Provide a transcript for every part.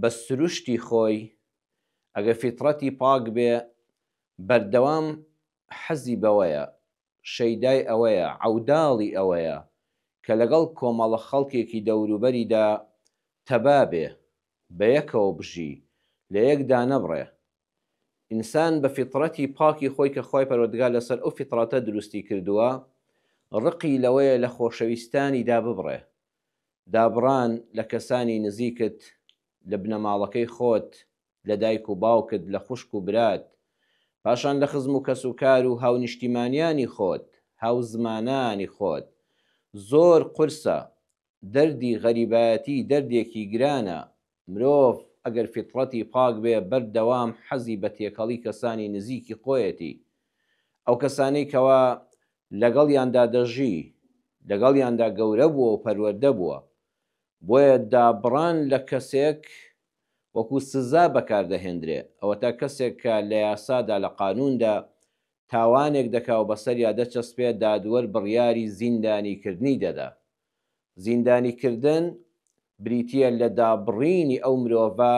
بە سروشتی خۆی ئەگەر فیتڕەتی پاک بێ بەردەوام حەزی بەوەیە، شەیدای ئەوەیە، عەوداڵی ئەوەیە کە لەگەڵ کۆمەڵە خەڵکێکی دەوروبەریدا تەبا بێ، بەیەکەوە بژی، لە یەک دانەبڕێ. ئینسان بە فیتڕەتی پاکی خۆی کە خوای پەروەردگار لەسەر ئەو فیتڕەتە دروستی کردووە، ڕقی لەوەیە لە خۆشەویستانیدا ببڕێ، دابڕان لە کەسانی نزیکت، لە بنەماڵەکەی خۆت، لە دایک و باوکت، لە خوشک و برات، پاشان لە خزم و کەسوکار و هاونیشتیمانیانی خۆت، هاوزمانانی خۆت، زۆر قورسە، دەردی غەریبایەتی دەردێکی گرانە، مرۆڤ ئەگەر فیتڕەتی پاک بێ بەر دەوام حەزی بە تێکەڵی کەسانی نزیکی خۆیەتی ئەو کەسانەی کەوا لەگەڵیاندا دەژی لەگەڵیاندا گەورە بووە و پەروەردە بووە بۆیە دابڕان لە کەسێک وەکو سزا بەکار دەهێندرێ ئەوەتا کەسێک کە لە یاسادا لە قانووندا تاوانێک دەکا و بەسەریا دەچەسپێ دادوەر بڕیاری زیندانی کردنی دەدا زیندانیکردن بریتییە لە دابڕینی ئەو مرۆڤە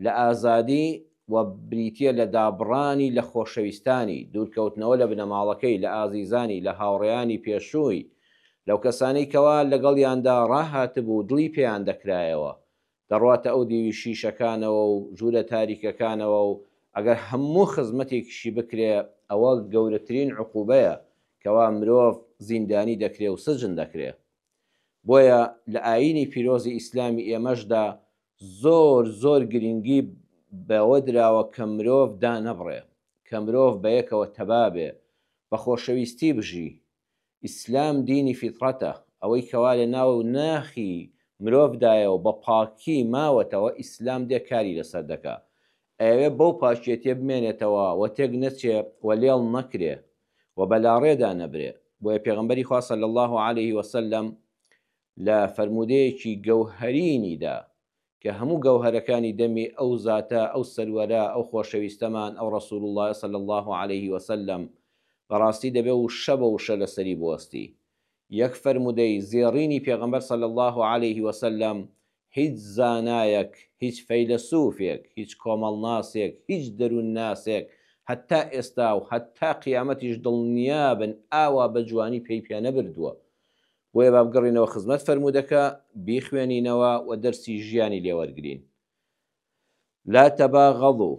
لە ئازادی و بریتییە لە دابڕانی لە خۆشەویستانی، دوورکەوتنەوە لە بنەماڵەکەی، لە ئازیزانی، لە هاوڕێیانی پێشووی، لەو کەسانەی کەوا لەگەڵیاندا ڕاهاتبوو و دڵی پێیان دەکرایەوە، دەڕواتە ئەو دیوی شیشەکانەوە و ژوورە تاریکەکانەوە و ئەگەر هەموو خزمەتێکیشی بکرێ ئەوە گەورەترین عقوبەیە کەوا مرۆڤ زیندانی دەکرێ و سجن دەکرێ بۆیە لە ئایینی پیرۆزی ئیسلامی ئێمەشدا زۆر زۆر گرنگی بەوە دراوە کە مرۆڤ دانەبڕێ کە مرۆڤ بەیەکەوە تەبا بێ بە خۆشەویستی بژی ئیسلام دینی فیتڕەتە، ئەوەی کەوا لە ناو و ناخی مرۆڤدایە و بە پاکی ماوەتەوە ئیسلام دێ کاری لەسەر دەکا. ئەیەوێ بەو پاکیەتیە بمێنێتەوە و تێک نەچێ و لێڵ نەکرێ و بە لاڕێدا نەبرێ. بۆیە پێغەمبەری خوا صلی اللە علیە وسلم لە فەرموودەیەکی گەوهەرینیدا کە هەموو گەوهەرەکانی دەمی ئەو زاتە، ئەو سەروەرە، ئەو خۆشەویستەمان، ئەو ڕەسول اللە صلی اللە علیە وسلم، بەڕاستی دەبێ وشە بە وشە لەسەری بوەستی. یەک فەرموودەی زێڕینی پێغەمبەر صلی اللە علیە وسلم هیچ زانایەک، هیچ فەیلەسوفێک، هیچ کۆمەڵناسێک، هیچ دەروونناسێک هەتا ئێستا و هەتا قیامەتیش دڵنیابن ئاوا بە جوانی پێی پێنەبردووە بۆیە با بگەڕینەوە خزمەت فەرموودەکە، بیخوێنینەوە و دەرسی ژیانی لێ وەرگرین. لا تباغضوا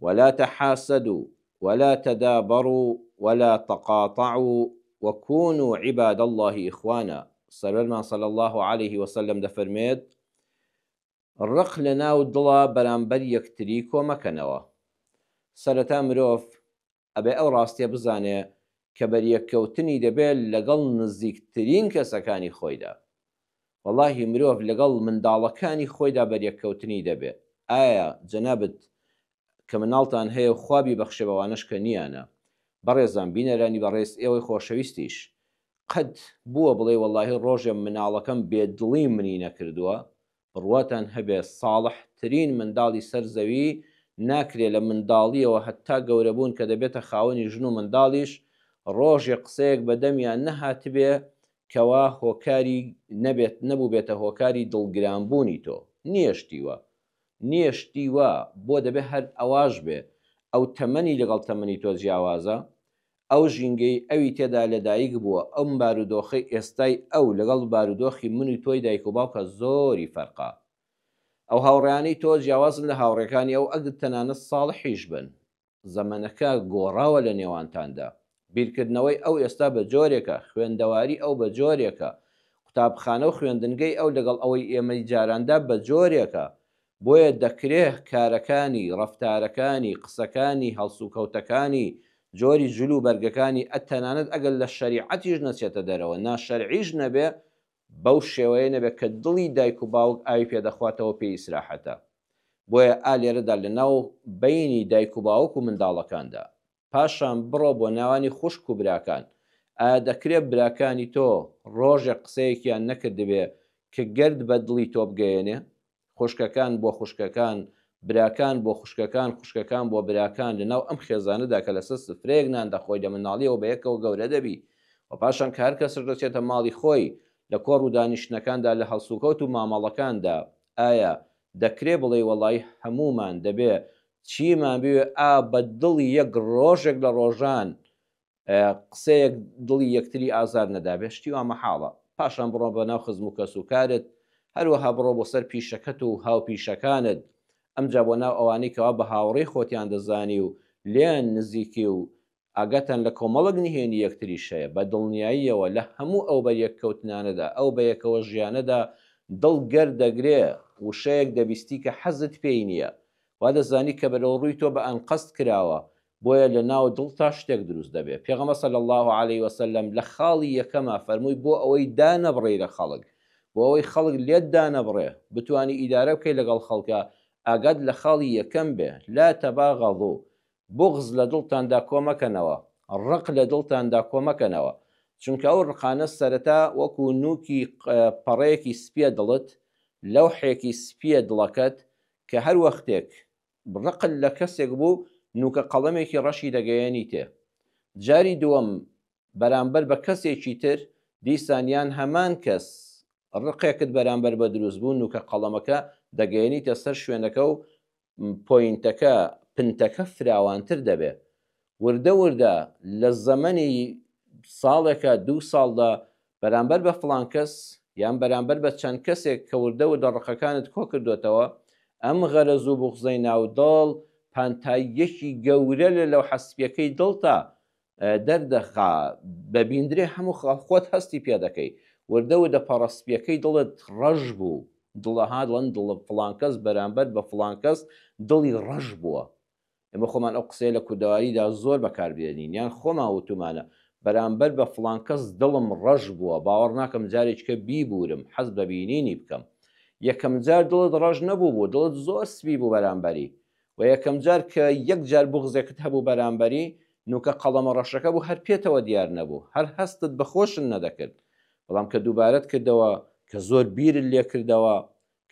ولا تحاسدوا ولا تدابروا ولا تقاطعوا وكونوا عباد الله اخوانا سەروەرمان صلی الله علیه وسلم دەفەرمێت ڕق لە ناو دڵە بەرامبەر یەکتری کۆمەکەنەوە سەرەتا مرۆڤ ئەبێ ئەو ڕاستیە بزانێ کە بەریەککەوتنی دەبێ لەگەڵ نزیکترین کەسەکانی خۆیدا وەڵاهی مرۆڤ لەگەڵ منداڵەکانی خۆیدا بەریەککەوتنی دەبێ ئایا جەنابت کە مناڵتان هەیە و خوا بیبەخشێ بەوانەش کە نیانە بەڕێزان بینەرانی بەڕێز ئێوەی خۆشەویستیش قەت بووە بڵێی وەڵاهی ڕۆژێ مناڵەکەم بێ دڵی منی نەکردووە بڕواتان هەبێ ساڵح ترین منداڵی سەر زەوی ناکرێ لە منداڵیەوە هەتا گەورەبوون کە دەبێتە خاوەنی ژن و منداڵیش ڕۆژێ قسەیەک بە دەمیان نەهاتبێ کەوا هۆکاری نەبێت نەبووبێتە هۆکاری دڵ گران بوونی تۆ نیە شتی وا نیە شتی وا بۆ دەبێ هەر ئەواش بێ ئەو تەمەنی لەگەڵ تەمەنی تۆ جیاوازە ئەو ژینگەی ئەوی تێدا لەدایک بووە، ئەم بارودۆخەی ئێستای ئەو لەگەڵ بارودۆخی من و تۆی دایک و باوکە زۆری فەرقە. ئەو هاوڕێیانەی تۆ جیاوازن لە هاوڕێکانی ئەو ئەگەر تەنانەت ساڵحیش بن. زەمەنەکە گۆڕاوە لە نێوانتاندا. بیرکردنەوەی ئەو ئێستا بە جۆرێکە، خوێندەواری ئەو بە جۆرێکە، قوتابخانە و خوێندنگەی ئەو لەگەڵ ئەوەی ئێمەی جاراندا بە جۆرێکە، بۆیە دەکرێ کارەکانی، ڕەفتارەکانی، قسەکانی، هەڵسوکەوتەکانی، جۆری جل و بەرگەکانی ە تەنانەت ئەگەر لە شەریعەتیش نەچێتە دەرەوە، ناشەرعیش نەبێ، بەو شێوەیە نەبێ کە دڵی دایک و باوک ئاوی پێ دەخواتەوە پێی ئیسراحەتە. بۆیە ئا لێرەدا لە ناو بەینی دایک و باوک و منداڵەکاندا. پاشان بڕۆ بۆ ناوانی خوشک و براکان ئایا دەکرێ براکانی تۆ ڕۆژێک قسەیەکیان نەکردبێ ک گەرد بە دڵی تۆ بگەیەنێ خوشکەکان بۆ خوشکەکان براکان بۆ خوشکەکان خوشکەکان بۆ براکان لە ناو ئەم خێزانەدا کە لەسەر سفرەیەک نان دەخۆی لە مناڵیەوە بە یەکەوە گەورە دەبی و پاشان کە هەر کەسش دەچێتە ماڵی خۆی لە کۆڕ و دانیشتنەکاندا لە هەڵسوکەوت و مامەڵەکاندا ئایا دەکرێ بڵێی وەڵایی هەموومان دەبێ چیمان بوێ ئا بە دڵی یەک ڕۆژێک لە ڕۆژان قسەیەک دڵی یەکتری ئازار نەدابێ شتی وا مەحاڵە پاشان بڕۆ بە ناو خزم و کەس و کارت هەروەها بڕۆ بۆ سەر پیشەکەت و هاوپیشەکانت ئەمجا بۆ ناو ئەوانەی کەوا بە هاوڕێی خۆتیان دەزانی و لێیان نزیکی و ئاگاتان لە کۆمەڵێک نهێنی یەکتریش هەیە، بە دڵنیاییەوە لە هەموو ئەو بەریەککەوتنانەدا، ئەو بەیەکەوە ژیانەدا دڵ گەر دەگرێ، وشەیەک دەبیستی کە حەزت پێی نییە. وا دەزانی کە بەرەوڕووی تۆ بە ئەنقەست کراوە، بۆیە لە ناو دڵتا شتێک دروست دەبێ. پێغەمبەر صلی اللە علیه و سلم لە خاڵی یەکەما فەرمووی بۆ ئەوەی دانەبڕێی لە خەڵک، بۆ ئەوەی خەڵک لێت دانەبڕێ، بتوانی ئیدارە بکەی لەگەڵ خەڵکا، ئاگات لە خاڵی یەکەم بێ، لا تباغضوا، بوغز لە دڵتاندا کۆ مەکەنەوە، ڕق لە دڵتاندا کۆ مەکەنەوە، چونکە ئەو ڕقانە سەرەتا وەکو نووکی پەڕەیەکی سپییە دڵت، لەوحێکی سپییە دڵەکەت، کە هەر وەختێک ڕقت لە کەسێک بوو نووکە قەڵەمێکی ڕەشی دەگەیەنیتێ، جاری دووەم بەرامبەر بە کەسێکی تر دیسان یان هەمان کەس ڕقێکت بەرامبەر بە دروست بوو نووکە قەڵەمەکە دەگەیەنیتە سەر شوێنەکە و پۆینتەکە پنتەکە فراوانتر دەبێ وردە وردە لە زەمەنی ساڵێکە دوو ساڵدا بەرامبەر بە فلان کەس یان بەرامبەر بە چەند کەسێک کە وردە وردە ڕقەکانت کۆ کردوێتەوە ئەم غەرەز و بغزەی ناو دڵ پانتاییەکی گەورە لە لەو حەسپیەکەی دڵتا دەردەخا بەبیندرێ هەموو خاڵ خۆت هەستی پێ دەکەی وردە وردە پەڕە سپیەکەی دڵت ڕەش بوو دڵەها دڵن دڵ فڵانکەس بەرامبەر بە فڵانکەس دڵی ڕەش بووە ئێمە خۆمان ئەو قسەیە لە کوردەواریدا زۆر بەکاربێنین یان خۆمان وتومانە بەرامبەر بە فڵانکەس دڵم ڕەش بووە باوەڕ ناکەم جارێککە بیبورم حەز بە بینینی بکەم یەکەم جار دڵت ڕەش نەبوو بوو دڵت زۆر سپی بوو بەرامبەری وە یەکەم جار کە یەک جار بوغزێکت هەبوو بەرامبەری، نوکە قەڵەمە ڕەشەکە بوو هەر پێتەوە دیار نەبوو، هەر هەستت بە خۆشن نەدەکرد، بەڵام کە دووبارەت کردەوە، کە زۆر بیرت لێ کردەوە،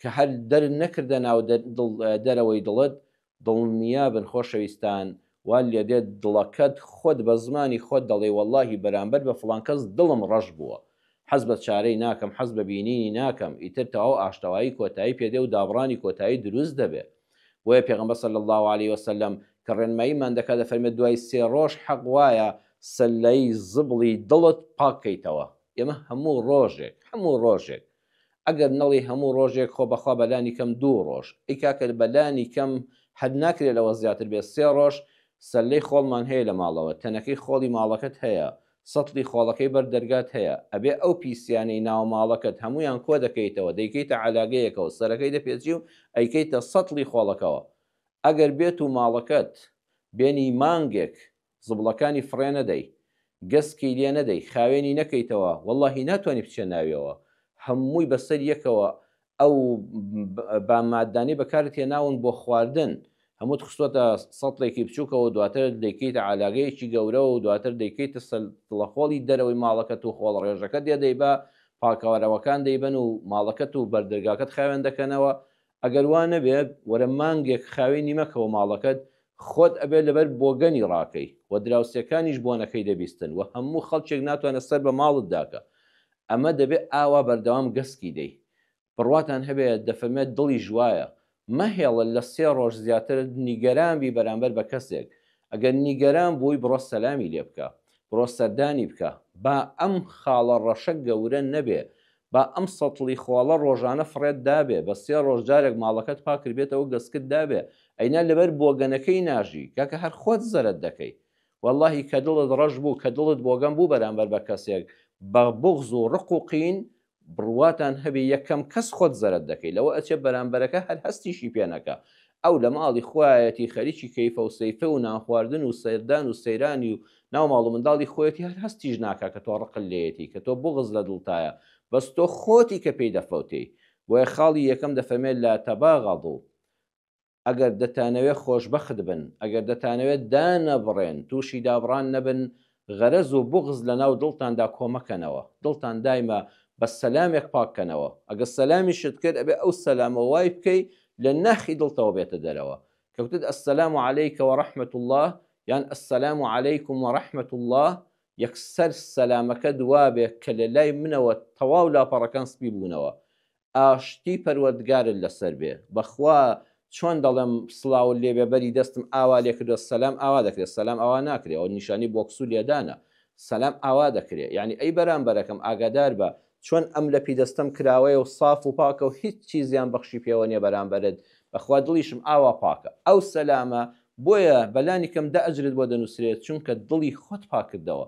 کە هەر دەرت نەکردە ناو دەرەوەی دڵت، دڵنیابن خۆشەویستان وات لێ دێت دڵەکەت خۆت بە زمانی خۆت دەڵێی وەڵاهی بەرامبەر بە فڵان کەس دڵم ڕەش بووە، حەز بە چارەی ناکەم، حەز بە بینینی ناکەم، ئیتر تەواو ئاشتەوایی کۆتایی پێ دێ و دابڕانی کۆتایی دروست دەبێ. بۆیە پێغەمبەر صلی اللە علیە وسلم کە ڕێنماییمان دەکات دەفەرمێت دوای سێ ڕۆژ حەق وایە سلەی زبڵی دڵت پاک کەیتەوە ئێمە هەموو ڕۆژێک هەموو ڕۆژێک ئەگەر نەڵی هەموو ڕۆژێک خۆ بەخوا بەلانی کەم دوو ڕۆژ ئەی کاکە بەلانی کەم هەر ناکرێت لەوە زیاتر بێت سێ ڕۆژ سلەی خۆڵمان هەیە لە ماڵەوە تەنەکەی خۆڵی ماڵەکەت هەیە سەتڵی خۆڵەکەی بەر دەرگات هەیە، ئەبێ ئەو پیسیانەی ناو ماڵەکەت هەموویان کۆ دەکەیتەوە دەیکەیتە عەلاگەیەکەوە سەرەکەی دەپێچی و ئەیکەیتە سەتڵی خۆڵەکەوە ئەگەر بێت و ماڵەکەت بێنی مانگێک زبڵەکانی فڕێ نەدەی گەسکی لێ نەدەی خاوێنی نەکەیتەوە وەڵاهی ناتوانی بچێ ناویەوە هەمووی بەسەر یەکەوە ئەو بام ماددانەی بەکارت هێناون بۆ خواردن هەمووت خستۆتە سەتڵێکی بچووکەوە دواتر دەیکەیتە علاگەیەکی گەورەوە و دواتر دەیکەیتە سەلتڵەخۆڵی دەرەوەی ماڵەکەت و خۆڵ ڕێژەکە دێ دەیبا پاکەوارەوەکان دەیبەن و ماڵەکەت و بەردەرگاکەت خاوێن دەکەنەوە ئەگەر وا نەبێت وەرە مانگێک خاوێ نیمەکەەوە ماڵەکەت خۆت ئەبێت لەبەر بۆگەنی ڕاکەی و دراوسێکانیش بۆنەکەی دەبیستن و هەموو خەڵکێک ناتوانە سەر بە ماڵت داکە ئەمە دەبێ ئاوا بەردەوام گەسکی دەی بڕواتان هەبێ دەفەرمێ دڵیش وایە مەهێڵە لە سێ ڕۆژ زیاتر نیگەران بی بەرامبەر بە کەسێک ئەگەر نیگەران بووی بڕۆ سەلامی لێ بکە بڕۆ سەردانی بکە با ئەم خاڵە ڕەشە گەورە نەبێ با ئەم سەتڵی خۆڵە ڕۆژانە فڕێت دابێ بە سێ ڕۆژ جارێک ماڵەکەت پاکربێتەوە گەسکت دابێ ئەینا لەبەر بۆگەنەکەی ناژی کاکە هەر خۆت زەرەد دەکەی وەڵاهی کە دڵت ڕەش بوو کە دڵت بۆگەن بوو بەرامبەر بە کەسێک بە بوغز و ڕق و قین بڕواتان هەبێ یەکەم کەس خۆت زەرەد دەکەی لەوە ئەچێ بەرامبەرەکە هەر هەستیشی پێ نەکا ئەو لە ماڵی خۆیەتی خەریکی کەیفە و سەیفە و نانخواردن و سەردان و سەیرانی و ناو ماڵ و منداڵی خۆیەتی هەر هەستیش ناکا کە تۆ ڕقت لێیەتی کە تۆ بوغز لە دڵتایە بەس تۆ خۆتی کە پێی دەفەوتێی بۆیە خاڵی یەکەم دەفەرمێ لا تباغضوا ئەگەر دەتانەوێت خۆشبەخت بن، ئەگەر دەتانەوێت دانەبڕێن، تووشی دابڕان نەبن، غەرەز و بوغز لەناو دڵتاندا کۆمەکەنەوە، دڵتان دایمە بە سەلامێک پاککەنەوە، ئەگەر سەلامیشت کرد ئەبێت ئەو سەلامە وای بکەی لە ناخی دڵتەوە بێتە دەرەوە، کەوتت السلام علیک و رحمت اللە یان السلام علیکم و رحمت اللە یەکسەر سەلامەکەت وابێت کە لەلای منەوە تەواو لاپەڕەکان سپی بوونەوە، ئاشتی پەروەردگارت لەسەر بێ بەخوا چۆن دەڵێم سڵاوت لێ بێ بەری دەستم ئاوا لێ کردوە سەلام ئاوا دەکرێ سەلام ئاوا ناکرێ ئەوە نیشانی بۆکس و لێدانە سەلام ئاوا دەکرێ یانی ئەی بەرامبەرەکەم ئاگادار بە چۆن ئەم لەپی دەستەم کراوەیە و ساف و پاکە و هیچی زیان بەخشی پێوە نیە بەرامبەرت بەخوا دڵیشم ئاوا پاکە ئەو سەلامە بۆیە بەلانی کەم دە ئەجرت بۆ دەنوسرێ چونکە دڵی خۆت پاک کردەوە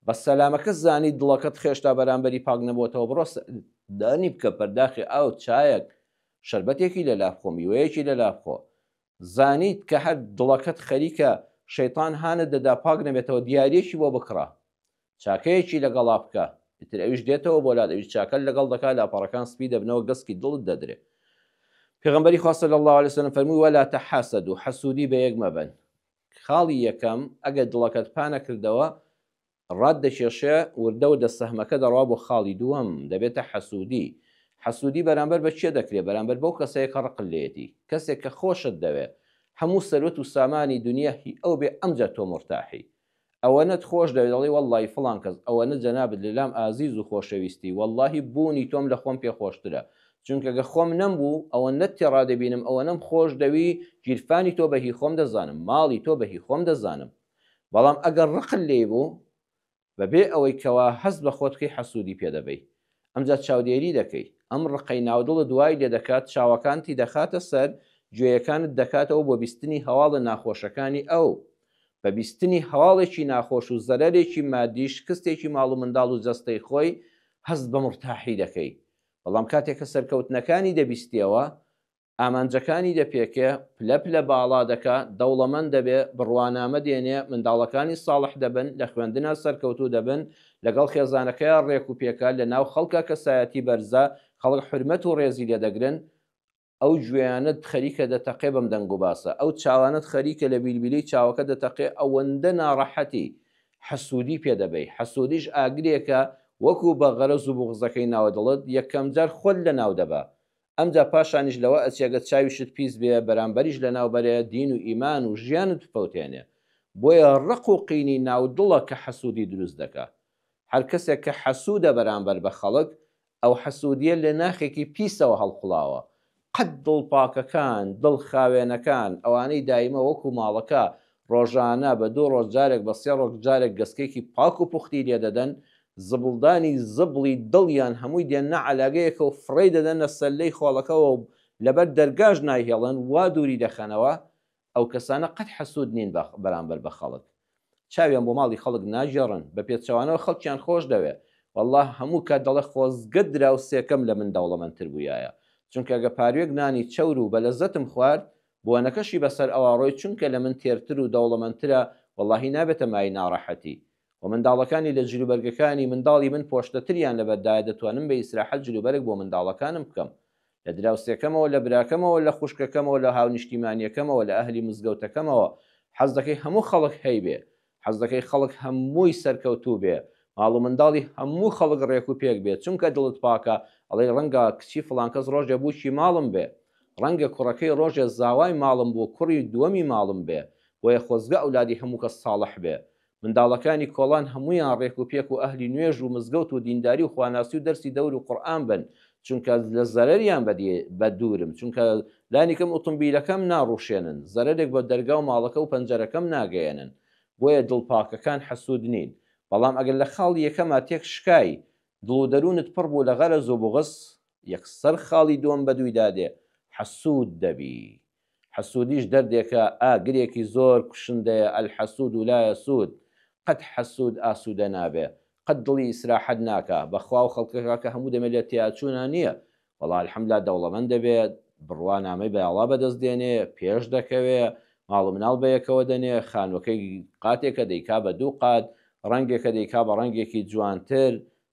بەس سەلامەکە زانی دڵەکەت خێشتا بەرامبەری پاک نەبۆتەوە بڕۆ سە دانی بکە پەرداخی ئاو چایەک شەربەتێکی لە لا بخۆ میوەیەکی لە لا بخۆ زانیت کە هەر دڵەکەت خەریکە شەیتان هانت دەدا پاک نەبێتەوە دیاریەکی بۆ بکڕە چاکەیەکی لەگەڵا بکە ئیتر ئەویش دێتەوە بۆ لات ئەویش چاکەت لەگەڵ دەکا لاپەڕەکان سپی دەبنەوە گەسکی دڵت دەدرێ پێغەمبەری خوا صلی اللە علیە وسلم فەرمووی ولا تحاسدوا حەسودی بە یەک مەبەن خاڵی یەکەم، ئەگەر دڵەکەت پا نەکردەوە، ڕات دەکێشێ، وردە وردە سەهمەکە دەڕوا بۆ خاڵی دووەم، دەبێتە حەسوودی. حەسوودی بەرامبەر بە کێ دەکرێ؟ بەرامبەر بەو کەسەی کە ڕقت لێیەتی. کەسێک کە خۆشت دەوێ، هەموو سەروەت و سامانی دونیا هی ئەو بێ، ئەمجا تۆ مورتاحی. ئەوەنەت خۆش دەوێت دەڵێی وەڵڵاهی فڵان کەس ئەوەنە جەنابت لەلام ئازیز و خۆشەویستی وەڵڵاهی بوونی تۆم لە خۆم پێ خۆشترە چونکە گەر خۆم نەمبوو ئەوەنەت تێڕا دەبینم ئەوەنەم خۆش دەوی گیرفانی تۆ بە هی خۆم دەزانم ماڵی تۆ بە هی خۆم دەزانم بەڵام ئەگەر ڕقت لێی بوو بەبێ ئەوەی کەوا هەست بە خۆت کەی حەسوودی پێ دەبەی ئەمجا چاودێری دەکەی ئەم ڕقەی ناودڵت وای لێ دەکات چاوەکانتی دەخاتە سەر گوێیەکانت دەکاتەوە بۆ بیستنی هەواڵە ناخۆشەکانی ئەو بە بیستنی هەواڵێکی ناخۆش و زەرەرێکی مادی شکستێکی ماڵ و منداڵ و جەستەی خۆی هەست بە مورتاحی دەکەی بەڵام کاتێ کە سەرکەوتنەکانی دەبیستیەوە ئامانجەکانی دەپێکێ پلە پلە باڵا دەکا دەوڵەمەند دەبێ بڕوانامە دێنێ منداڵەکانی ساڵح دەبن لە خوێندنا سەرکەوتوو دەبن لەگەڵ خێزانەکەیا ڕێک و پێکە لە ناو خەڵکا کەسایەتی بەرزە خەڵک حورمەت و ڕێزی لێ دەگرن ئەو گوێیانەت خەریکە دەتەقێ بەم دەنگ و باسە، ئەو چاوانەت خەریکە لە بیلبیلەی چاوەکە دەتەقێ ئەوەندە ناڕەحەتی، حەسوودی پێ دەبەی، حەسوودیش ئاگرێکە وەکوو بە غەرەز و بوغزەکەی ناوە دڵت یەکەم جار خۆت لە ناو دەبا، ئەمجا پاشانیش لەوە ئەچێ گەر چاویشت پیس بێ بەرامبەریش لە ناو بەرێ دین و ئیمان و ژیانت بپەوتێنێ، بۆیە ڕق و قینی ناو دڵە کە حەسوودی دروست دەکا، هەر کەسێک کە حەسوودە بەرامبەر بە خەڵک ئەو حەسودیە لە ناخێکی پیسەوە هەڵقوڵاوە. قەت دڵ پاکەکان، دڵ خاوێنەکان، ئەوانەی دایمە وەکو ماڵەکە ڕۆژانە بە دوو ڕۆژ جارێک بە سێ ڕۆک جارێک گەسکێکی پاک و پوختی لێ دەدەن، زبڵدانی زبڵی دڵیان هەمووی دێننە عەلاگەیەکە و فڕێی دەدەنە سەللەی خۆڵەکەوە و لەبەر دەرگاش نایهێڵن، وا دووری دەخەنەوە. ئەو کەسانە قەت حەسود نین بە بەرامبەر بە خەڵک چاویان بۆ ماڵی خەڵک ناگێڕن بە پێچەوانەوە خەڵکیان خۆش دەوێ وەڵا هەموو کات دەڵێ خۆزگە دراوسێکەم لە من دەوڵەمەند تر بوویایە چونکە گە پاروێک نانی چەور و بەلەزەتم خوارد بۆنەکەشی بەسەر ئەوا ڕۆی چونکە لە من تێرتر و دەوڵەمەند ترە وەڵاهی نابێتە مایەی ناڕەحەتی و منداڵەکانی لە جلوبەرگەکانی منداڵی من پۆشتە تریان لەبەر دایە دەتوانم بە ئیسراحەت جلوبەرگ بۆ منداڵەکانم بکەم لە دراوسێکەمەوە، لە براکەمەوە، لە خوشکەکەمەوە، لە هاونیشتیمانیەکەمەوە، لە ئەهلی مزگەوتەکەمەوە، حەز دەکەی هەموو خەڵک هەیبێ، حەز دەکەی خەڵک هەمووی سەرکەوتوو بێ، ماڵ و منداڵی هەموو خەڵک ڕێک و پێک بێ، چونکە دڵت پاکە، ئەڵێی ڕەنگە کچی فڵانکەس ڕۆژێ بووکی ماڵم بێ، ڕەنگە کوڕەکەی ڕۆژێ زاوای ماڵم بوو، کوڕی دووەمی ماڵم بێ، بۆیە خۆزگە ئەولادی هەموو کەس ساڵح بێ، منداڵەکانی کۆڵان هەموویان ڕێک و پێک و ئەهلی نوێژ و مزگەوت و دینداری و خواناسی و دەرسی دەور و قورئان بن چونکە لە زەرەریان بە دوورم چونکە لانیکەم ئوتومبیلەکەم ناڕوشێنن زەرەرێک بە دەرگا و ماڵەکە و پەنجەرەکەم ناگەیەنن بۆیە دڵ پاکەکان حەسود نین بەڵام ئەگەر لە خاڵی یەکەما تێک شکای دڵ و دەروونت پڕ بوو لە غەرەز و بوغز یەکسەر خاڵی دووەم بەدوویدا دێ حەسود دەبی حەسودیش دەردێکە ئاگرێکی زۆر کوشندەیە الحسود لا یسود قەت حەسود ئاسودە نابێ قەت دڵی ئیسراحەت ناکا بەخوا ئەو خەڵکەکە کە هەموو دەمێ لە تێیاچوونا نیە وەڵا الحمدللە دەوڵەمەند دەبێ بڕوا نامەی بەاڵا بەدەست دێنێ پێش دەکەوێ ماڵ و مناڵ بەیەکەوە دەنێ خانوەکەی قاتێکە دەیکا بە دوو قات ڕەنگێکە دەیکا بە ڕەنگێکی جوانتر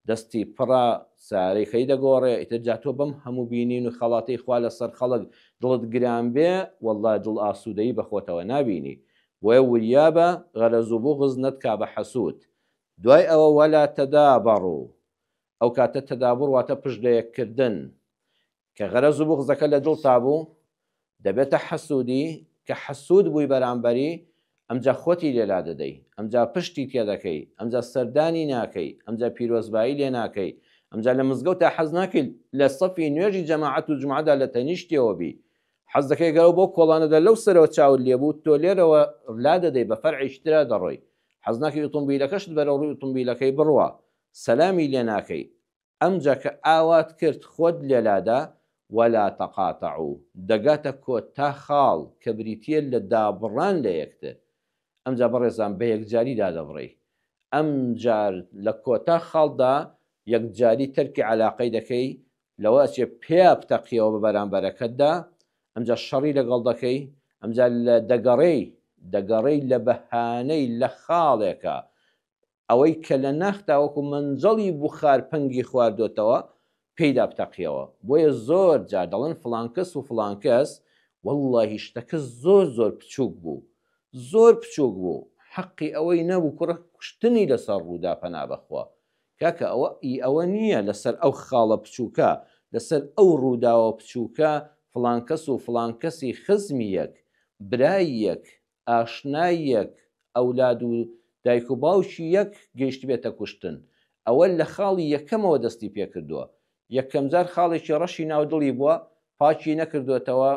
دەستی پڕە سارەی خەی دەگۆڕێ ئیتر جا تۆ بەم هەموو بینین و خەڵاتەی خوا لەسەر خەڵک دڵت گران بێ وەڵڵا دڵ ئاسوودەیی بەخۆتەوە نابینی بۆیە وریابە غەرەز و بوغز نەتکا بە حەسوود دوای ئەوە ولا تدابروا ئەوکاتە تدابر واتە پشت لەیەک کردن کە غەرەز و بوغزەکە لە دڵتا بوو دەبێتە حەسوودی، کە حەسوود بووی بەرامبەری ئەمجا خۆتی لێلا دەدەی، ئەمجا پشتی تێ دەکەی، ئەمجا سەردانی ناکەی، ئەمجا پیرۆزبایی لێ ناکەی، ئەمجا لە مزگەوتا حەز ناکەی لە سەفی نوێژی جەماعەت و جومعەدا لە تەنیشتیەوە بی، حەز دەکەی گەر ئەو بەو کۆڵانەدا لەو سەرەوە چاوت لێ بوو تۆ لێرەوە لا دەدەی بە فەرعێکی ترا دەڕۆی، حەز ناکەی ئوتومبیلەکەشت بەرەوڕووی ئوتومبیلەکەی بڕوا سەلامی لێ ناکەی، ئەمجا کە ئاوات کرد خۆت لێلادا، ولا تقاطعو، دەگاتە کۆتا خاڵ کە بریتییە لە دابڕان لە یەکتر، ئەمجا بەڕێزان بە یەکجاری دادەبڕێی، ئەمجار لە کۆتا خاڵدا یەکجاری تەرکی عەلاقەی دەکەی، لەوە ئەچێ پێیا بتەقیەوە بە بەرامبەرەکەتدا، ئەمجا شەڕی لەگەڵ دەکەی، ئەمجا لە دەگەڕێی، دەگەڕێی لە بەهانەی لە خاڵێکا ئەوەی کە لە ناخ تاوەکو مەنجەڵی بوخار پەنگی خواردۆتەوە پێی دابتەقیەوە بۆیە زۆر جار دەڵێن فڵان کەس و فڵان کەس وەڵڵاهی شتەکە زۆر زۆر بچووک بوو زۆر بچووک بوو حەقی ئەوەی نەبوو کوڕە کوشتنی لەسەر ڕوودا پەنا بەخوا کاکە ئەوە ئی ئەوە نییە لەسەر ئەو خاڵە بچووکە لەسەر ئەو ڕووداوە بچووکە فڵان کەس و فڵان کەسی خزمی یەک برای یەک ئاشنای یەک، ئەولاد و دایک و باوکی یەک گەیشتبێتە کوشتن، ئەوە لە خاڵی یەکەمەوە دەستی پێکردووە، یەکەمجار خاڵێکی ڕەشی ناو دڵی بووە، پاکی نەکردۆتەوە،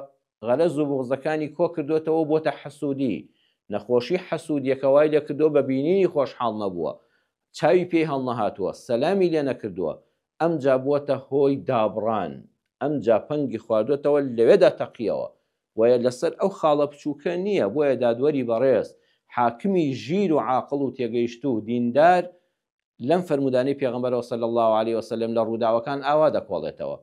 غەرەز و بوغزەکانی کۆکردۆتەوە و بۆتە حەسوودی، نەخۆشی حەسوودییەکە وای لێکردووە بە بینینی خۆشحاڵ نەبووە، چاوی پێی هەڵنەهاتووە، سەلامی لێ نەکردووە، ئەمجا بووەتە هۆی دابڕان، ئەمجا پەنگی خواردۆتەوە لەوێدا تەقییەوە، بۆیە لەسەر ئەو خاڵە بچووکە نییە، بۆیە دادوەری بەڕێز، حاکمی ژیر و عاقڵ و تێگەیشتوو، دیندار، لەم فەرموودانەی پێغەمبەرەوە صلی اللە علیە و سلم لە ڕووداوەکان ئاوا دەکۆڵێتەوە،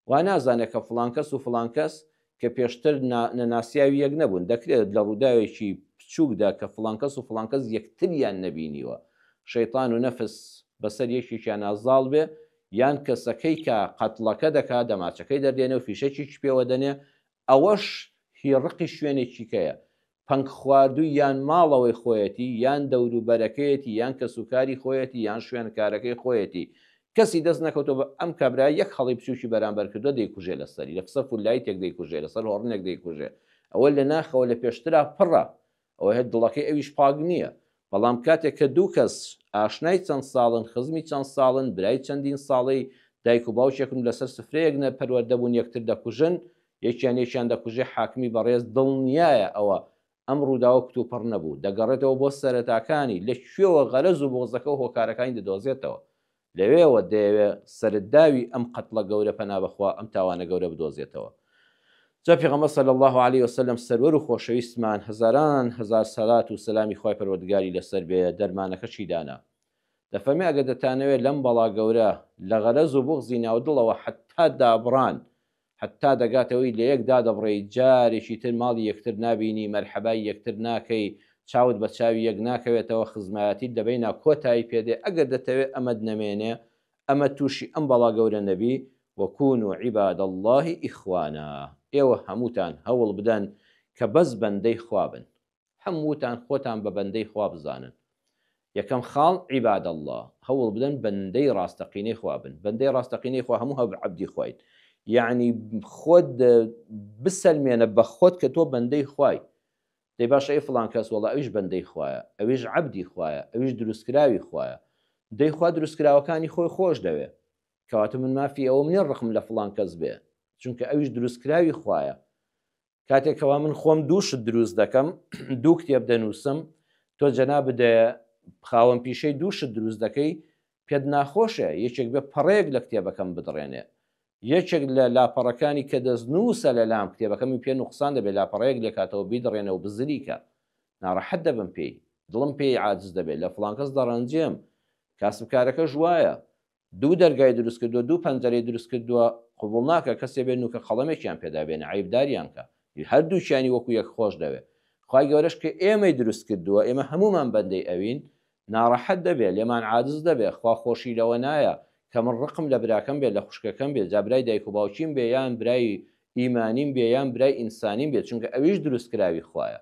وا نازانێت کە فڵان کەس و فڵان کەس کە پێشتر نەناسیاوی یەک نەبوون، دەکرێت لە ڕووداوێکی بچووکدا کە فڵان کەس و فڵان کەس یەکتریان نەبینیوە، شەیتان و نەفس بەسەر یەکێکیانا زاڵ بێ، یان کەسەکەی کە قەتڵەکە دەکا دەماچەکەی دەردێنێ و فیشەکێکی پێوە دەنێ، ئەوەش هی ڕقی شوێنێکی کەیە پەنگ خواردووی یان ماڵەوەی خۆیەتی یان دەوروبەرەکەیەتی یان کەسوکاری خۆیەتی یان شوێنکارەکەی خۆیەتی کەسی دەست نەکەوتۆ بە ئەم کابرا یەک هەڵی بچوکی بەرامبەر کردوە دەیکوژێ لەسەری لە قسە فوللایتێک دەیکوژێ لەسەر هۆڕنێک دەیکوژێ ئەوە لە ناخەوە لە پێشترا پڕە ئەوە هەر دڵەکەی ئەویش پاک نییە بەڵام کاتێک کە دوو کەس ئاشنای چەند ساڵن خزمی چەند ساڵن برای چەندین ساڵەی دایک و باوکێکم لەسەر سفرەیەک نە پەروەردەبوون یەکتر دەکوژن یەکیان یەکیان دەکوژێ حاکمی بەڕێز دڵنیایە ئەوە ئەم ڕووداوە کتوپڕ نەبوو دەگەڕێتەوە بۆ سەرەتاکانی لە کوێوە غەرەز و بۆزەکە و هۆکارەکانی دەدۆزێتەوە لەوێوە دەیەوێ سەرتداوی ئەم قەتڵە گەورە پەنا بەخوا ئەم تاوانە گەورە بدۆزێتەوە جا پێغەمبەر صلی اللە علیە وسلم سەروەر و خۆشەویستمان هەزاران هەزار سەلات و سەلامی خوای پەروەردگاری لەسەر بێ دەرمانەکە چی دانا دەفەرمێ ئەگەر دەتانەوێ لەم بەڵا گەورە لە غەرەز و بوغزی ناو دڵەوە حەتتا دابڕان هەتا دەگاتەوەی لەیەک دادەبڕێی جارێکی تر ماڵی یەکتر نابینی مەرحەبای یەکتر ناکەی چاوت بە چاوی یەک ناکەوێتەوە خزمایەتیت لە بەینا کۆتایی پێدێ ئەگەر دەتەوێ ئەمەت نەمێنێ ئەمە توشی ئەم بەڵا گەورە نەبی و کونو عباد اللە اخوانا ئێوە هەمووتان هەوڵ بدەن کە بەس بەندەی خوا بن هەمووتان خۆتان بە بەندەی خوا بزانن یەکەم خاڵ عیباد اللە هەوڵ بدەن بەندەی ڕاستەقینەی خوا بن بەندەی ڕاستەقینەی خوا هەموو هەب عەبدی خوین یەعنی خۆت بسەلمێنە بە خۆت کە تۆ بەندەی خوای دەی باشە ئەی فڵان کەس وەڵا ئەویش بەندەی خوایە ئەویش عەبدی خوایە ئەویش دروستکراوی خوایە دەی خوا دروستکراوەکانی خۆی خۆش دەوێ کەواتە من مافی ئەوەم نیە ڕقم لە فڵان کەس بێ چونکە ئەویش دروستکراوی خوایە کاتێک کەوا من خۆم دووشت دروست دەکەم دوو کتێب دەنووسم تۆ جەنا بدە خاوەن پیشەی دووشت دروست دەکەی پێت ناخۆشە یەکێک بە پەڕەیەک لە کتێبەکەم بدڕێنێ یەکێک لە لاپەڕەکانی کە دەست نووسە لە لام کتێبەکەمی پێ نوقسان دەبێت لاپەڕەیەک لێکاتەوە بیدڕێنە و بزریکە ناڕەحەت دەبم پێی دڵم پێی عادز دەبێت لە فلانکەس دەڕەنجێم کاسبکارەکەش وایە دوو دەرگای دروست کردووە دوو پەنجەرەی دروست کردووە قبوڵ ناکە کەسێ بێ نوکە قەڵەمێکیان پێدا بێنێ عەیبداریان کە هەردووکیانی وەکو یەک خۆش دەوێ خوای گەورەش کە ئێمەی دروست کردووە ئێمە هەمومان بەندەی ئەوین ناڕەحەت دەبێ لێمان عاجز دەبێ خوا خۆشی لەوە نایە کە من ڕقم لە براکەم بێ لە خوشکەکەم بێ جا برای دایک و باوکیم بێ یان برای ئیمانیم بێ یان برای ئینسانیم بێ چونکە ئەویش دروست کراوی خوایە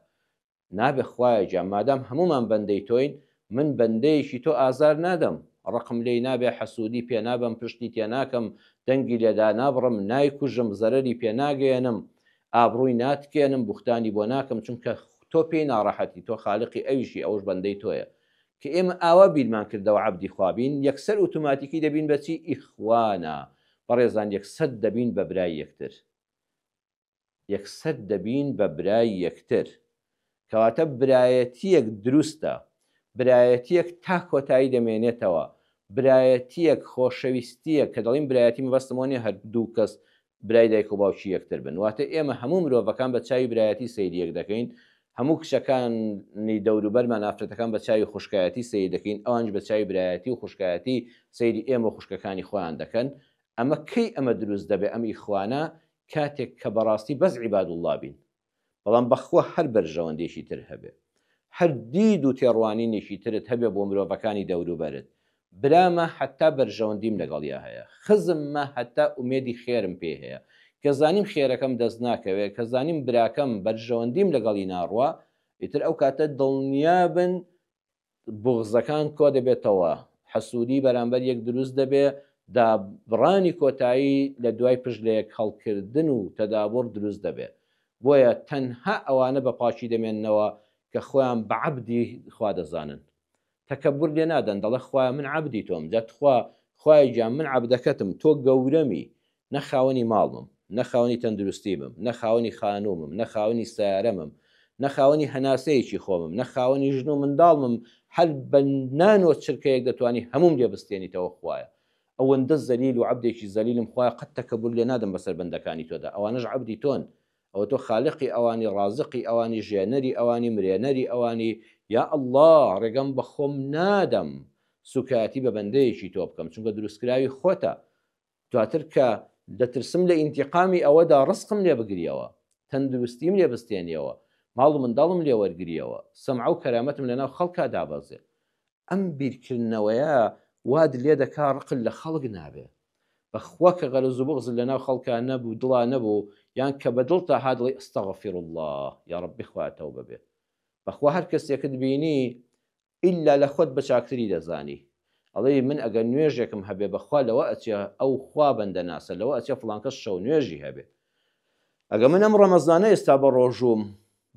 نابێ خوایە گیان مادام هەموومان بەندەی تۆین من بەندەیەکی تۆ ئازار نادەم ڕقم لێی نابێ حەسوودی پێ نابەم پشتی تێ ناکەم دەنگی لێ دانابڕم نایکوژم زەرەری پێ ناگەیەنم ئابڕووی ناتکێنم بوختانی بۆ ناکەم چونکە تۆ پێی ناڕەحەتی تۆ خالقی ئەویشی ئەوش بەندەی تۆیە کە ئێمە ئاوا بیرمان کردەوە عەبدی خوا بین یەکسەر ئوتوماتیکی دەبین بە چی ئیخوانا بەڕێزان یەکسەد دەبین بە برای یەکتر یەکسەر دەبین بە برای یەکتر. کەواتە برایەتییەک دروستە، برایەتییەک تا کۆتایی دەمێنێتەوە، برایەتییەک خۆشەویستییە، کە دەڵیم برایەتی مەبەستم ئەوە نییە هەر دوو کەس برای دایک و باوکی یەکتر بن، واتە ئێمە هەموو مرۆڤەکان بە چاوی برایەتی سەیری یەک دەکەین، هەموو کچەکانی دەوروبەرمان، ئافرەتەکان بە چاوی خوشکایەتی سەیری دەکەین، ئەوانیش بە چاوی برایەتی و خوشکایەتی سەیری ئێمە و خوشکەکانی خۆیان دەکەن، ئەمە کەی ئەمە دروست دەبێ ئەم ئیخوانە کاتێک کە بەڕاستی بەس عیبادوڵڵا بین بەڵام بەخوا هەر بەرژەوەندێکی تر هەبێ هەر دید و تێڕوانینێکی ترت هەبێ بۆ مرۆڤەکانی دەوروبەرت برامە هەتا بەرژەوەندیم لەگەڵیا هەیە خزممە هەتا ئومێدی خێرم پێی هەیە کە زانیم خێرەکەم دەست ناکەوێ کە زانیم براکەم بەرژەوەندیم لەگەڵی ناڕوا ئیتر ئەو کاتە دڵنیا بن بوغزەکان کۆدەبێتەوە، حەسوودی بەرامبەر یەک دروست دەبێ، دابڕانی کۆتایی لە دوای پشت لە یەک هەڵکردن و تەدابوڕ دروست دەبێ. بۆیە تەنها ئەوانە بە پاکی دەمێننەوە کە خۆیان بە عەبدی خوا دەزانن. تەکەببور لێ نادەن، دەڵێ خوایە من عەبدی تۆم، جا تخوا خوایە گیان من عەبدەکەتم، تۆ گەورەمی، نە خاوەنی ماڵمم، نە خاوەنی تەندروستیمم، نە خاوەنی خانوومم، نە خاوەنی سەیارەمم، نە خاوەنی هەناسەیەکی خۆمم، نە خاوەنی ژن و منداڵمم، هەر بە نانۆ چرکەیەک دەتوانی هەمووم لێ بستێنیتەوە خوایە. ئەوەندە زەلیل و عەبدێکی زەلیلم خوایە قەت تەکەبور لێ نادەم بەسەر بەندەکانی تۆدا، ئەوانەش عەبدی تۆن، ئەوە تۆ خالقی ئەوانی، ڕازقی ئەوانی، ژێنەری ئەوانی، مرێنەری ئەوانی، یا اللە ڕێگەم بە خۆم نادەم سووکایەتی بە بەندەیەکی تۆ بکەم، چونکە دروستکراوی خۆتە، دواتر کە دەترسم لە ئینتیقامی ئەوەدا ڕزقم لێ بگریەوە، تەندروستیم لێ بستێنیەوە، ماڵ و منداڵم لێ وەرگریەوە، سەمعە و کەرامەتم لەناو خەڵکا دابەزێ. ئەم بیرکردنەوەیە وات لێ دەکا ڕقت لە خەڵک نابێ. بەخوا کە غەرەز و بوغزت لەناو خەڵکا نەبوو، دڵا نەبوو، یان کە بە دڵتا هات دەڵێی، استغفراللە، یاڕەبی خوایە تەوبە بێ. بەخوا هەر کەسێکت بینی ئیلا لە خۆت بە چاکتری دەزانی ئەڵێی من ئەگەر نوێژێکم هەبێ بە خوا لەوە ئەچێ ئەو خوا بەندە ناسە لەوە ئەچێ فڵان کەس شەو نوێژی هەبێ ئەگە من ئەم ڕەمەزانە ئێستا بە ڕۆژووم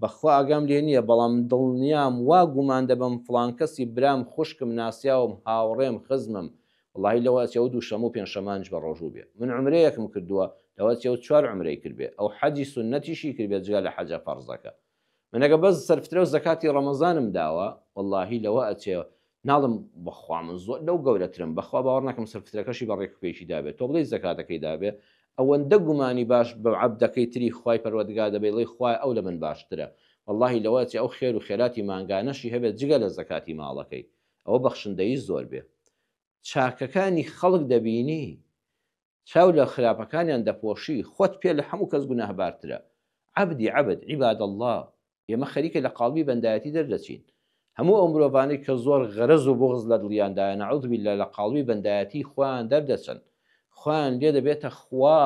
بە خوا ئاگام لێ نییە بەڵام دڵنیام وا گومان دەبەم فڵان کەسی برام خوشکم ناسیاوم هاوڕێم خزمم وەڵاهی لەوە ئەچێ ئەو دووشەمە و پێنجشەمانیش بە ڕۆژوو بێ من عومرەیەکم کردووە لەوە ئەچێ ئەو چوار عومرەی کردبێ ئەو حەجی سوننەتیشی کردبێ جگە لە حەجە فەڕزەکە من ئەگە بەس سەرفترەو زەکاتی ڕەمەزانم داوە وەڵاهی لەوە ئەچێ ناڵم بەخوا من زۆر لەو گەورەترم بەخوا باوەڕ ناکەم سەرفترەکەشی بە ڕێک پێکی دابێت تۆ بڵێی زەکاتەکەی دابێ ئەوەندە گومانی باش بە عەبدەکەی تری خوای پەروەردگار دەبێ دەڵێی خوایە ئەو لە من باشترە وەڵاهی لەوە ئەچێ ئەو خێر و خێراتی مانگانەشی هەبێت جگە لە زەکاتی ماڵەکەی ئەوە بەخشندەیی زۆر بێ چاکەکانی خەڵک دەبینی چاو لە خراپەکانیان دەپۆشی خۆت پێ لە هەموو کەس گوناهبارترە عەبدی عەبد عیباد اللە ئێمە خەریکە لە قاڵبی بەندایەتی دەردەچین هەموو ئەو مرۆڤانەی کە زۆر غەرەز و بوغز لە دڵیاندایە نعوذ باللە لە قاڵبی بەندایەتی خۆیان دەردەچن خۆیان لێ دەبێتە خوا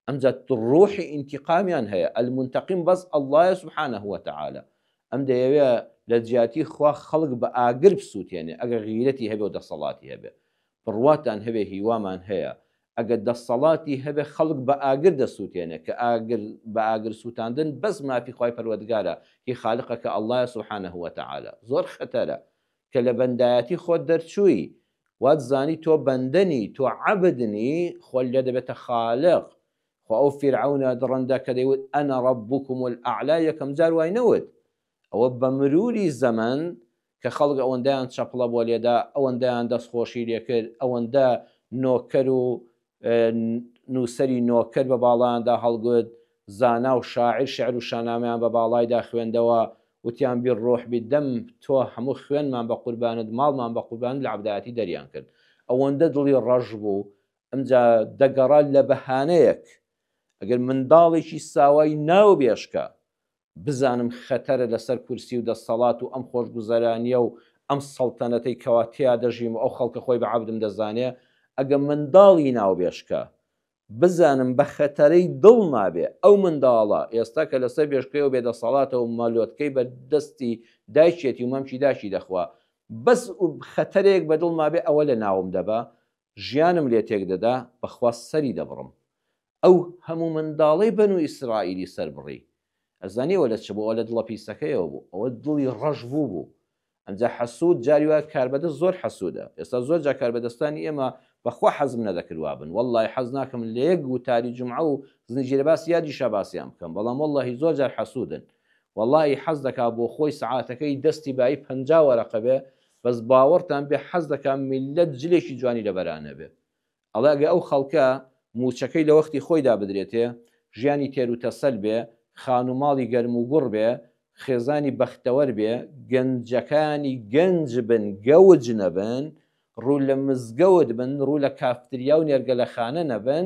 ئەمجا ڕوحی ئینتیقامیان هەیە المنتقم بەس اللە سبحانە وتعالی ئەم دەیەوێ لە جیاتی خوا خەڵک بە ئاگر بسوتێنێ ئەگەر غیرەتی هەبێ و دەسەڵاتی هەبێ بڕواتان هەبێ هیوامان هەیە ئەگەر دەستەڵاتی هەبێ خەڵک بە ئاگر دەسوتێنێ کە ئاگر بە ئاگر سوتاندن بەس مافی خوای پەروەردگارە هی خالقەکە اللە سبحانە وتعالی زۆر خەتەرە کە لە بەندایەتی خۆت دەرچووی وات زانی تۆ بەندە نی تۆ عەبد نی خۆت لێ دەبێتە خالق خۆ ئەو فیرعەونە دڕندە کە دەیوت انا ربکم الاعلی یەکەم جار وای نەوت ئەوە بە مروری زەمەن کە خەڵک ئەوەندەیان چەپڵە بۆ لێدا، ئەوەندەیان دەستخۆشی لێ کرد، ئەوەندە نۆکەر و نووسەری نۆکەر بە باڵایاندا هەڵگوت، زانا و شاعیر شیعر و شانامەیان بە باڵایدا خوێندەوە، وتیان بالروح بالدم، تۆ هەموو خوێنمان بە قوربانت، ماڵمان بە قوربانت لە عەبدایەتی دەریان کرد. ئەوەندە دڵی ڕەش بوو، ئەمجا دەگەڕا لە بەهانەیەک، ئەگەر منداڵێکی ساوای ناوبێژ کە بزانم خەتەرە لەسەر کورسی و دەستەڵات و ئەم خۆشگوزەرانیە و ئەم سەڵتەنەتەی کەوا تێیا دەژیم و ئەو خەڵکە خۆی بە عەبدم دەزانێ ئەگە منداڵی ناوبێشکە بزانم بە خەتەرەی دڵ نابێ ئەو منداڵە ئێستا کە لەسەر بێشکەی و بێ دەسەڵاتە و مەلۆتکەی بە دەستی دایکێتی و مەمکی داکی دەخوا بەس و خەتەرێک بە دڵ مابێ ئەوە لە ناوم دەبا ژیانم لێ تێک دەدا بەخوا سەری دەبڕم ئەو هەموو منداڵەی بەنو ئیسرائیلی سەربڕی ئەزانی ئەوە لە چ بوو ئەوە لە دڵە پیسەکەیەوە بوو ئەوە دڵی ڕەش بوو بوو ئەنجا حەسوود جاری وا کاربەدەست زۆر حەسوودە ئێستا زۆر جا کاربەدەستانی ئێمە بەخوا حەزم نەدەکرد وابن وەڵڵاهی حەز ناکەم لە یەک وتاری جومعە و زنجیرە باسی یادی شاباسیان بکەم بەڵام وەڵڵاهی زۆر جار حەسوودن وەڵڵاهی حەز دەکا بۆ خۆی سەعاتەکەی دەستی بایی پەنجا وەرەقە بێ بەس باوەڕتان بێ حەز دەکا میللەت جلێکی جوانی لەبەرانەبێ ئەڵێ ئەگە ئەو خەڵکە مووچەکەی لە وەختی خۆیدا بدرێتێ، ژیانی تێروتەسەل بێ، خانوو ماڵی گەرم و گوڕ بێ، خێزانی بەختەوەر بێ، گەنجەکانی گەنج بن گەوج نەبن، ڕوو لە مزگەوت بن، ڕوو لە کافتریا و نێرگەلەخانە نەبن،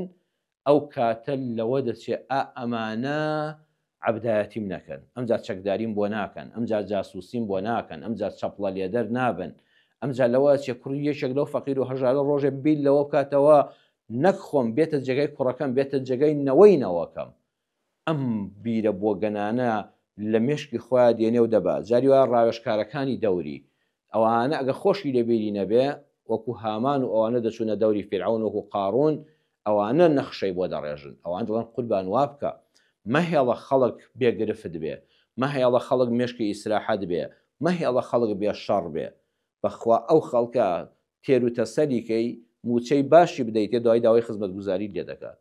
ئەو کاتە لەوە دەچێ ئا ئەمانە عەبدایەتیم نەکەن، ئەمجا چەکداریم بۆ ناکەن، ئەمجا جاسووسیم بۆ ناکەن، ئەمجا چەپڵە لێدەر نابن، ئەمجا لەوە ئەچێ کوڕی یەکێک لەو فەقیر و هەژارە ڕۆژێ بیر لەوە بکاتەوە نەک خۆم، بێتە جێگای کوڕەکەم، بێتە جێگای نەوەی نەوەکەم. ئەم بیرە بۆگەنانە لە مێشکی خۆیا دێنێ و دەبا. جاری وایە ڕاوێژکارەکانی دەوری، ئەوانە ئەگەر خۆشی لە بیری نەبێ، وەکوو هامان و ئەوانە دەچوونە دەوری فیرعەون وەکوو قاڕوون، ئەوانە نەخشەی بۆ دەڕێژن. ئەوان دەڵێن قوربان وا بکە. مەهێڵە خەڵک بێ گرفت بێ. مەهێڵە خەڵک مێشکی ئیسراحەت بێ. مەهێڵە خەڵک بێ شەڕ بێ. بە خوا ئەو خەڵکە تێروتەسەلی کەی، مووچەی باشی بدەیتێ دوای داوای خزمەتگوزاریت لێ دەکات.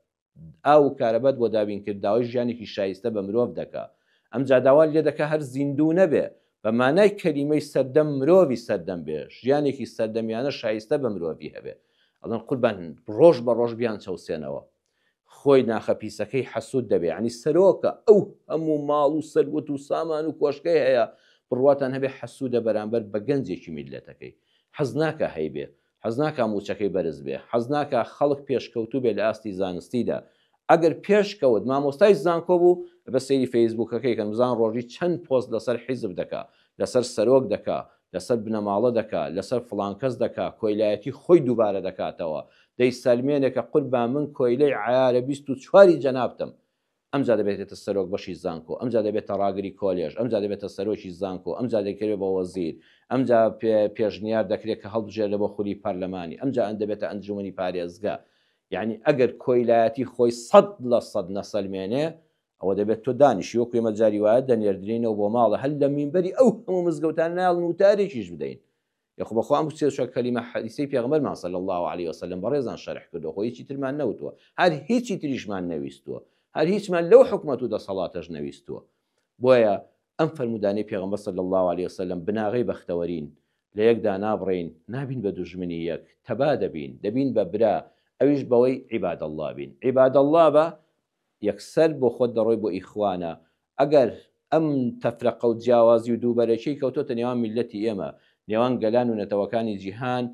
ئاو و کارەبات بۆ دابین کرد داوای ژیانێکی شایستە بە مرۆڤ دەکا ئەمجا داوات لێ دەکا هەر زیندوو نەبێ بە مانای کەلیمەی سەردەم مرۆڤی سەردەم بێ ژیانێکی سەردەمیانە شایستە بە مرۆڤی هەبێ ئەڵێن قوربان ڕۆژ بە ڕۆژ بیان چەوسێنەوە خۆی ناخە پیسەکەی حەسوود دەبێ یانی سەرۆکە ئەو هەموو ماڵ و سەروەت و سامان و کۆشکەی هەیە بڕواتان هەبێ حەسوودە بەرامبەر بە گەنجێکی میللەتەکەی حەز ناکا هەیبێ حەزناکا مووچەکەی بەرز بێ، حەزناکا خەڵک پێشکەوتوو بێ لە ئاستی زانستیدا، ئەگەر پێشکەوت مامۆستای زانکۆ بوو، ئەبێ سەیری فەیسبووکەکەی کەن بزان ڕۆژی چەند پۆست لەسەر حیزب دەکا، لەسەر سەرۆک دەکا، لەسەر بنەماڵە دەکا، لەسەر فڵان کەس دەکا، کۆیلایەتی خۆی دووبارە دەکاتەوە، دەیسەلمێنێ کە قوربان من کۆیلەی عەیارە بیست و چواری جەنابتم، ئەمجا دەبێتێتە سەرۆک بەشی زانکۆ، ئەمجا دەبێتە ڕاگری کۆلێژ، ئەمجا دەبێتە سەرۆکی زانکۆ، ئەمجا دەکرێ بە وەزیر، ئەمجا پێشنیار دەکرێ کە هەڵبژێررێ بۆ خولی پەرلەمانی، ئەمجا دەبێتە ئەنجوومەنی پارێزگا. یەعنی ئەگەر کۆیلایەتی خۆی سەد لە سەد نەسەلمێنێ، ئەوە دەبێت تۆ دانیشی، وەکو ئێمە جاری وایە دەنێردرێینەوە بۆ ماڵێ، هەر لە مینبەری ئەو هەموو مزگەوتانە نایەڵن وتارێکیش بدەین. یخۆ بەخوا ئەم سێ چوار کەلیمە حەدیسەی پێغەمبەرمان صلی اللە علیە وسلم بەڕێزان شەرح کردووە خۆ هیچی ترمان نەوتووە هەر هیچی تریشمان نەویستووە هەر هیچمان لەو حکومەت و دەسەڵاتەش نەویستووە بۆیە ئەم فەرمودانی پێغەمبەر صلی اللە علیە وسلم بناغەی بەختەوەرین لە یەکدا نابڕین نابین بە دوژمنی یەک تەبا دەبین دەبین بە برا ئەویش بەوەی عیباد اللە بین عیباد اللە بە یەکسەر بۆ خۆت دەڕۆی بۆ ئیخوانە ئەگەر ئەم تەفرەقە و جیاوازی و دووبەرەکیەی کەوتۆتە نێوان میللەتی ئێمە نێوان گەلان و نەتەوەکانی جیهان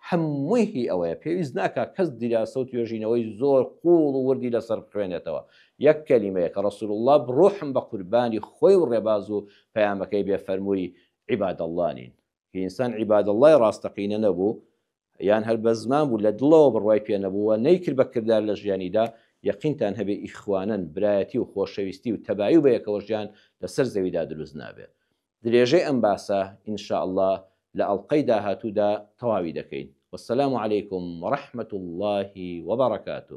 هەمووی هی ئەوەیە پێویست ناکا کەس دیراسە و توێژینەوەی زۆر قوڵ و وردی لەسەر بخوێنێتەوە یەک کەلیمەیە کە رسول اللە روحم بە قوربانی خۆی و رێباز و پەیامەکەی بێ فەرمووی عباد اللە نین هی ئینسان عباد اللە ی راستەقینە نەبوو یان هەر بە زمان بوو لە دڵەوە بڕوای پێ نەبوو و نەیکرد بە کردار لە ژیانیدا، یەقینتان هەبێ ئیخوانەن، برایەتی و خۆشەویستی و تەبایی و بەیەکەوە ژیان لە سەر زەویدا دروست نابێ. درێژەی ئەم باسە ان شاء اللە لە ئەڵقەی داهاتوودا تەواوی دەکەین. والسلام علیکم ورحمة اللە وبرکاته.